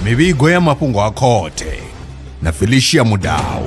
mivhigo ya mafhungo a khothe na felicia mudau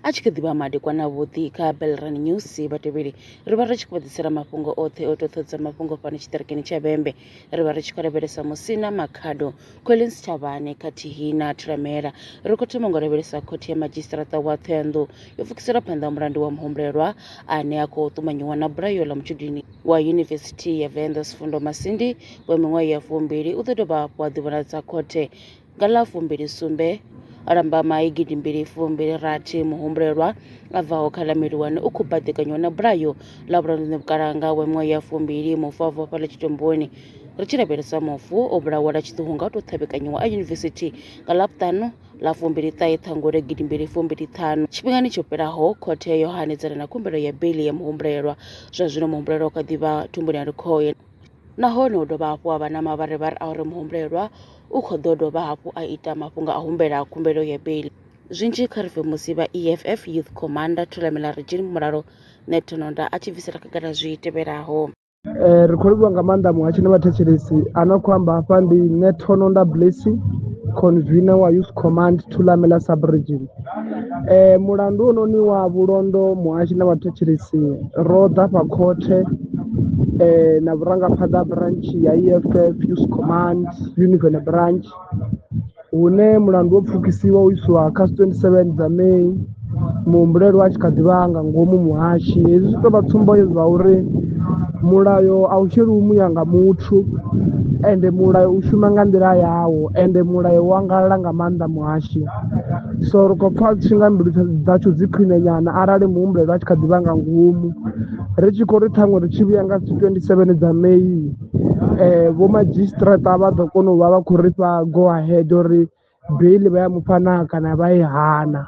a tshi kha ḓivha madekwana vhuḓi kha belran news vhatevheli ri vha ri tshi khou ḓisela mafhungo oṱhe o toṱhodza mafhungo fhano tshiṱirikini tsha vhembe ri vha ri tshi khou lavhelesa musina makhado Collins Sitshavhane khathihi na Thulamela. Ri khou thoma ngo lavhelesa khothe ya madzhisiṱiraṱa wa Thohoyandou yo pfukisela phanḓa mulandu wa muhumbulelwa ane a khou ṱumanyiwa na bulayo ḽa mutshudini wa Yunivesithi ya Venḓa Sifundo Masindi wa miṅwaha ya fumbili u ḓo dovha hafhu a ḓivhonadza khothe nga ḽa fumbili sumbe lambamai gidimbili fumbili rathi muhumbulelwa a bvaho kha ḽa miliwane u khou baḓekanywa na bulayo ḽa vhulanduni vhukalanga wa miṅwaha ya fumbili mufa vhofha ḽa tshitomboni ri tshi lavhelesa mufu o vhulawa lwa tshiṱuhu nga u tou ṱhavhekanyiwa a yunivesithi nga ḽavhuṱanu ḽa fumbili ṱahe ṱhangule gidimbili fumbili ṱhanu tshifhingani tsho fhelaho khothe yo hanedzana na khumbelo ya beli ya muhumbulelwa zwa zwino muhumbulelwa u kha ḓivha thumbuni ya likhoye nahone hu dovha hafhu ha vha na mavharivhari a uri muhumbulelwa u khou ḓo dovha hafhu a ita mafhungo a humbela khumbelo ya beli zwinzhi kha ri musi vha eff youth commander thulamela regin mulalo netonoda a tshi bvisela khagala zwi tevhelaho Eh, ri khou livhuwa nga maanḓa muhatsho na vhathetshelesi a no khou amba hafha ndi netono nda blessing convener wa youth command thulamela subregion eh, mulandu ononi wa vhulondo muhashi na vhathetshelesi ro ḓa fha khothe eh, na vhurangaphanḓa branch ya eff youth command univene branch hune mulandu wo pfukisiwa u iswa kha 27 dza May muhumbulelwa a tshi kha ḓivha nga ngomu muhashi. Hezwi zwi tovha tsumbo yo zwa uri mulayo a u sheliwi muya nga muthu ende mulayo u shuma nga nḓila yawo ende mulayo wa ngalala nga maanḓa muhashi so ri khou pfha tshi nga mbilu dzashu dzi khwine nyana arali muhumbulelwa a tshi kha ḓivha nga ngomu ri tshi khou ri ṱhaṅwe ri tshi vhuya nga 27 dza May vho madzhisiṱiraṱa vha ḓo kona u vha vha khou ri fha go ahead uri beiḽi vha ya mufha naa kana vha i hana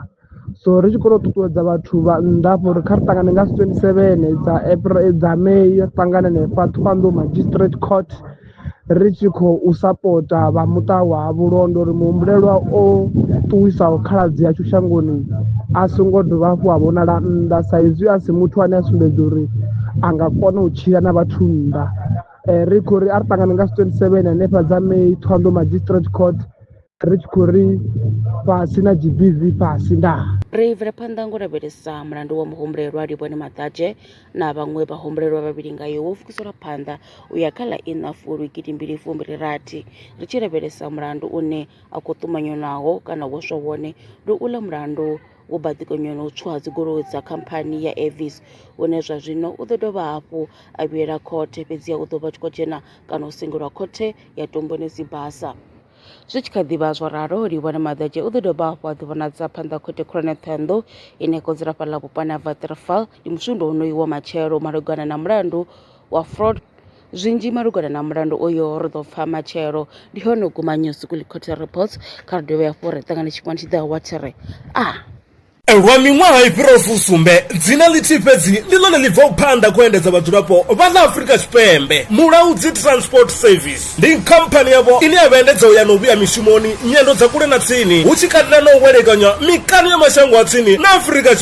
so ri tshi kone u ṱuṱuwedza vhathu vha nnḓa hafha uri kha ri ṱangane nga twenty seven dza April dza May ri ṱangane hanefha Thohoyandou Magistrate Court ri tshi khou sapota vha muṱa wa Vho Lwendo uri muhumbulelwa o ṱuwisaho khaladzi ashu shangoni a songo dovha hafhu a vhonala nnḓa sa izwi a si muthu ane a sumbedza uri a nga kona u tshila na vhathu nnḓa. eh, ri khou ri a ri ṱangane nga 27 hanefha dza may thondo magistrate court ri tshi khou ri fhasi na gbv fhasi ndaa ri bvela phanḓa ngo lavhelesa mulandu wa muhumbulelwa livhone maḓadzhe na vhaṅwe vhahumbulelwa vhavhili ngayo wo fukiselwa phanḓa u ya kha ḽa ina fulwi gidimbili fumbili rathi ri tshi lavhelesa mulandu une a khou ṱumanywa naho kana wo swa wone ndi u ḽa mulandu wo baḓekanywa na u tswa ha dzigoloi dza khamphani ya Avis une zwa zwino u ḓo dovha hafhu a vhuyela khothe fhedziha u ḓo vha tshi khou dzhena kana u sengulwa khothe ya Tomboni Sibasa. Zwi tshi kha ḓi vha zwo ralo, Livhuwani Maḓadzhe u ḓo dovha hafhu a ḓivhonadza phanḓa ha Khothe Khulwane ya Ṱhohoyanḓou ine ya khou dzula fhaḽa vhuponi ha Waterval ndi musumbe wonoyu wa matshelo malugana na mulandu wa fraud Zwinzhi malugana na mulandu uyo ri ḓo pfa matshelo ndi hone u guma News Weekly Court Reports kha ri dovhe hafhu ri ṱangane tshifhingani tshi ḓaho wa tshi ri a ah! Lwa miṅwaha i fhiraho fusumbe, dzina ḽithihi fhedzi ndi ḽone ḽi bvaho phanḓa kho endedza vhadzulapo vha ḽa Afrika Tshipembe. Mulaudzi Transport Service ndi khamphani yavho ine ya vha endedza u ya na u vhuya mishumoni, nyendo dza kule na tsini, hu tshi katela na u welekanywa mikano ya mashango a tsini na Afrika